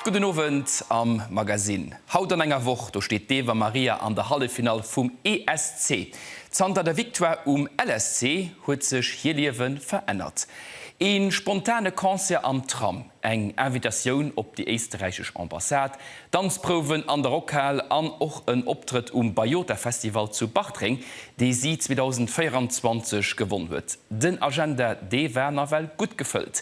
Gudden Owend am Magasinn. Haut an enger Woch, do steet d'Eva Maria an der Halleffinall vum ESC. Zanter der Victoire um LSC huet sech hir Liewe verännert. Ee spontane Concert am Tram, eng Invitatioun op déi éisteräichesch Ambassade, Danzprouwen an der Rockhal an och en Optrëtt um Bayota Festival zu Bartreng, dee si 2024 gewonn huet. Den Agenda, dee war nawell gutt gefëllt.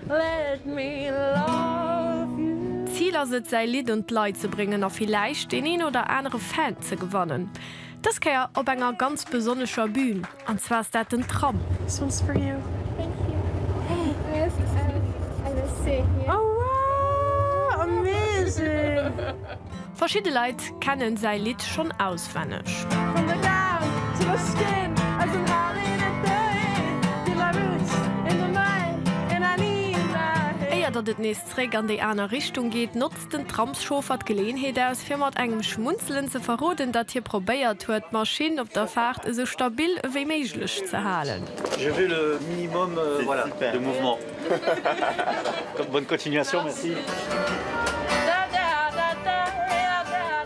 Let me love you. D'Zil ass et säi Lidd un d'Leit ze bréngen a villäicht deen een oder anere Fan ze gewannen. Dës Kéier op enger ganz besonnescher Bühn, an zwar ass dat den Tram. This one's for you. Thank you. Hey. Merci. Oh wow! Amazing! Verschidde Leit kennen säi Lidd schonn auswenneg. Éier datt et nees zréck an déi aner Richtung geet, notzt den Tramschauffer d'Geleeënheet aus, fir mat engem Schmunzelen ze verroden, datt hie probéiert huet, d'Maschinn op der Faart esou stabil ewéi méiglech ze halen. Bonne continuation, merci.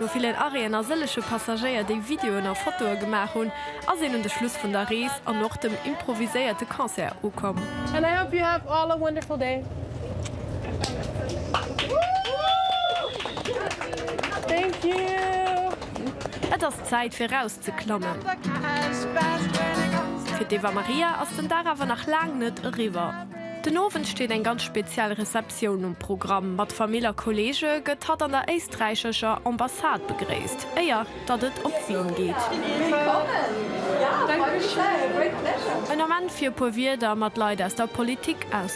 No villen Arrêten a sëlleche Passagéier, déi Videoen a Fotoe gemaach hunn, ass een un de Schluss vun der Rees an och dem improviséierte Concert ukomm. And I hope you have all a wonderful day. Thank you. Zäit fir raus ze klammen. Fir d'Eva Maria ass den Dag awer nach laang net eriwwer. Den Owend steet eng ganz speziell Receptioun um Programm. Mat Famill a Kollege gëtt hatt an der éisträichescher Ambassade begréisst, éier datt et op d'Bün geet. En Ament fir e puer Wierder mat Leit aus der Politik aus.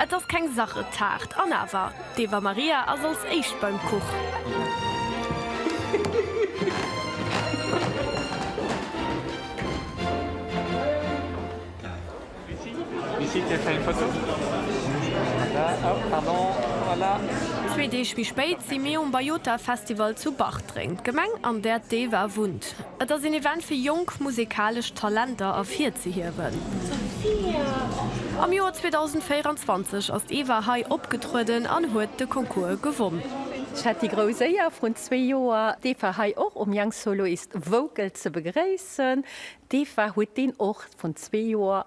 Et ass keng Sachetaart, an awer, d'Eva Maria ass als éischt beim Kuch. Zwee Deeg méi spéit si mir um Bajota Festival zu Bartreng, d'Gemeng, an där d'Eva wunnt. Et ass een Event fir jonk musekalesch Talenter ervirzehiewen. Am Joer 2024 ass d'Eva hei opgetrueden an huet de Concours gewonn. Ech hat déi grouss Éier vrun zwee Joer d'Eva hei och um Young Soloist Vocal ze begréissen. D'Eva huet deen Ort vrun zwee Joer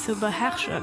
ze beherrschen.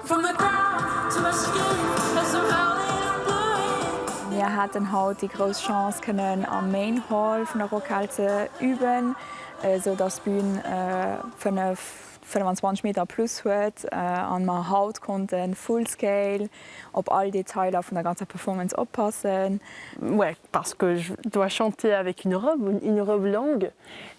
Mir haten haut déi grouss Chance kënnen am Main Hall vun der Rockhal ze üben, esou dass d'Bün 5, 25 Meter plus huet an mer haut konnten full scale op all Detailer vun der ganzer Performance oppassen.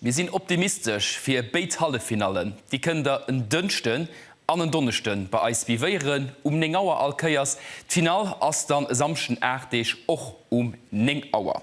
Mir sinn optimistesch fir béid Halleffinallen. Déi kënnt der en Dënschden an en Donneschden bei eis vivéieren um 9 Auer all Kéiers. D'Finall ass dann e Samschden 8 Deeg och um 9 Auer.